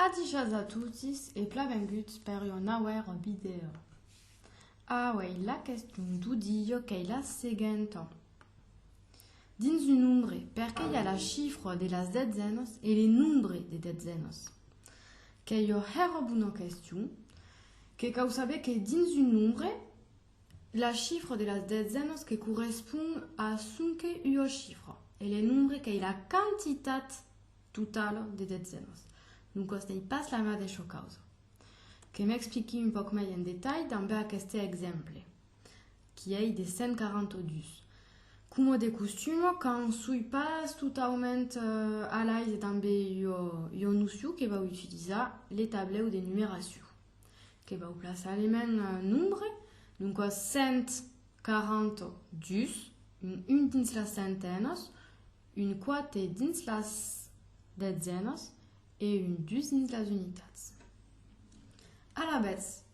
Adishas a totis e plavenguts per ua nauèra vidèo. Auèi la question du dieu qu'ei la seguenta. Dins un nombre perqué i a la chifra de las detzenas e le nombre de detzenas? Qu'ei ua hèra bona question que cau saber que dins un nombre La chifra de las dezenas que correspond a sonque ua chifra e le nombre qu'ei la quantitat totala de dezenas. Doncas n'ei pas la madeisha causa. Que m'expliqui un pauc mai en detalh dambe aqueste exemple, qui ei de 142. Coma de costuma, quand soi pas totaument a l'aise dambe ua nocion que vau utilizar, le tablèu de numeracion. Que vau plaçar le mèn nombre, doncas 142, un 1 dins las centenas, un 4 dins las detzenas e un 2 dins las unitats. Alavetz,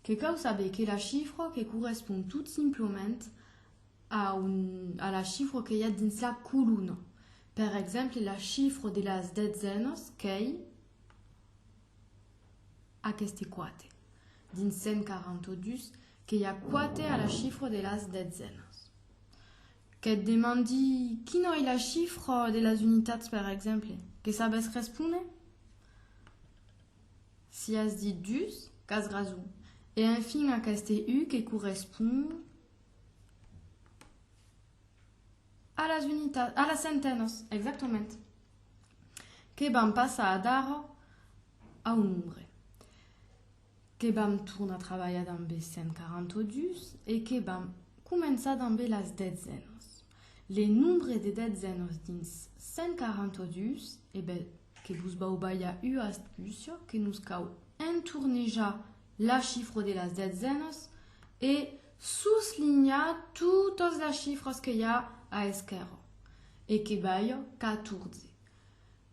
que cau saber que la chifra que correspond tot simplament a, un, a la chifra que i a dins la colona. Per exemple, la chifra de las detzenas qu'ei. Aqueste quate. Dins 142 que i a quate a la chifra de las detzènas. Que't demandi quina ei la chifra de las unitats per exemple, que sabes respóner? Si as dit dus, qu'as rason. E enfin aqueste u que correspond. A las unitats, a las centenas, exactament, que vam passar d'ara a un nombre, que vam tornar trabalhar damb es 142 e que vam començar damb las detzènas. Le nombre de detzènas dins 142, e ben, que vos vau balhar ua astúcia, que nos cau entornejar la chifra de las detzènas e Soslinhar totas las chifras que i a a esquèrra e que balha 14.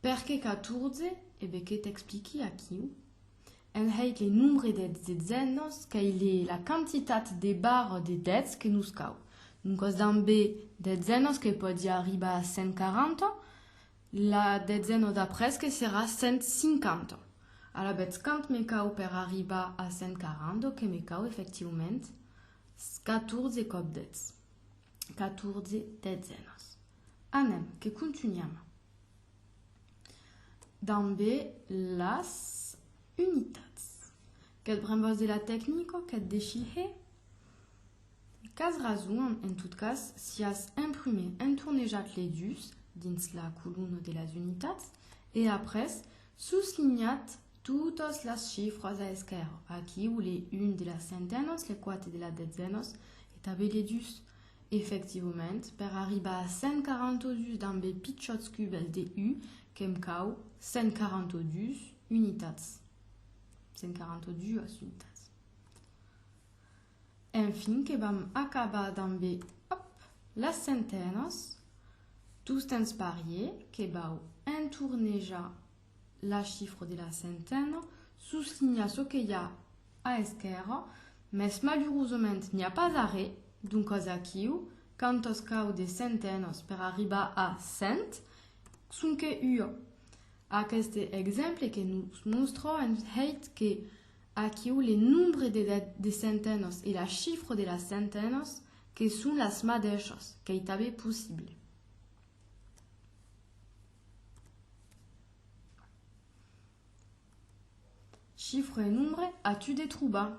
Perqué 14? E be que t'expliqui aquiu. En hèit le nombre de detzènas qu'ei le la quantitat de barres de dètz que nos cau. Doncas damb be detzènas que pòdi arribar a 140, La detzen ò d'après que serà 150. Alavetz quant me cau per arribar a 140 ò que me cau efectivament 14 còp 10. 14 detzenas. Anem, que contunham dambe las unitats. Que't brembas de la tecnica? Que't dechihe? Qu'as rason, en tot cas, si as imprumé entornejat lei dus dins la columna de las unitats e après soslinhat totas las chifras a esquèrra, aquiu lei un de las centenas, lei quate de las detzenas e tanben lei dus. Efectivament, per arribar a 142 damb ei pichòts cubes de u que'm cau 142 unitats. 142 unitats. Enfin que vam acabar damb e òp! las centenas, tostemps parier que vau entornejar la chifra de la centena, soslinhar çò que i a a esquèrra, mès malurosament n'i a pas arré, doncas aquiu, quand os cau de centenas per arribar a cent, sonque ua. Aqueste exemple que nos mòstra en hèit que Aquiu le nombre de de centenòs e la chifra de las centenòs que son las madèishas, qu'ei tanben possible. Chifra e nombre a tu de trobar.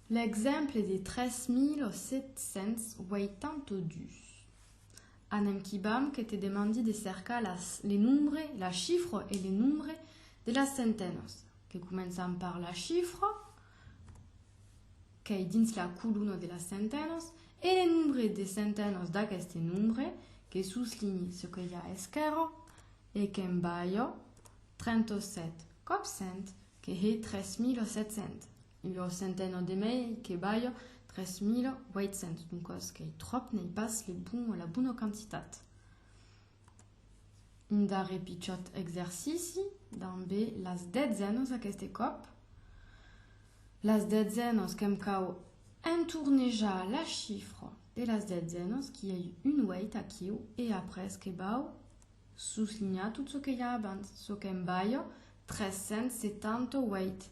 L'exemple de 3782. Anem quibam que te demandi de cercar las, le nombre, la chifra e le nombre de las centenas. Que començam per la chifra, qu'ei dins la colona de las centenas, e le nombre de centenas d'aqueste nombre, que soslinhi ce que i a a esquèrra, e que'm balha 37 còps 100, que hè 3700. Lo centeno de mai que balho 3.800, doncas qu'ei tròp n'ei pas le bon o la bona quantitat. Un darrer pichòt exercici damb las detzènos aqueste còp. Las detzènos que'm cau entornejar la chifra de las detzènos qui ei un 8 aquiu e après que bau soslinhar tot çò que i a abans, çò qu'em balho 378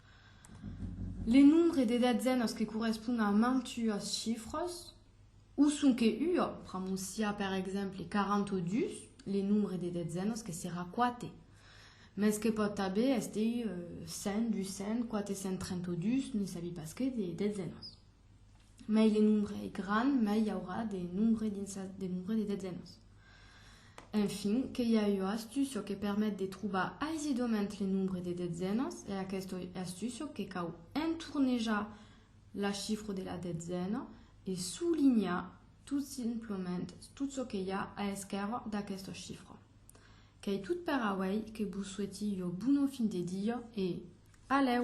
Le nombre de datzenas que correspond a mantuas chifras, o sonque ua, pr'amor siá per exemple 40 o 2, le nombre de datzenas que serà 4, mès que pòt tanben èster 100, 200, 432, ne sabi pas que, de datzenas. Mai le nombre es grand, mai i aurà de nombre dins sa, de nombre de detzenas. Enfin, que i a ua astucio que permet de trobar aisidament le nombre de detzenas, e aquesta astucio que cau entornejar la chifra de la detzena e solinhar tot simplement tot çò que i a a esquèrra d'aquesta chifra. Qu'ei tot per auei, que vos soueti ua bona fin de dia e alèu!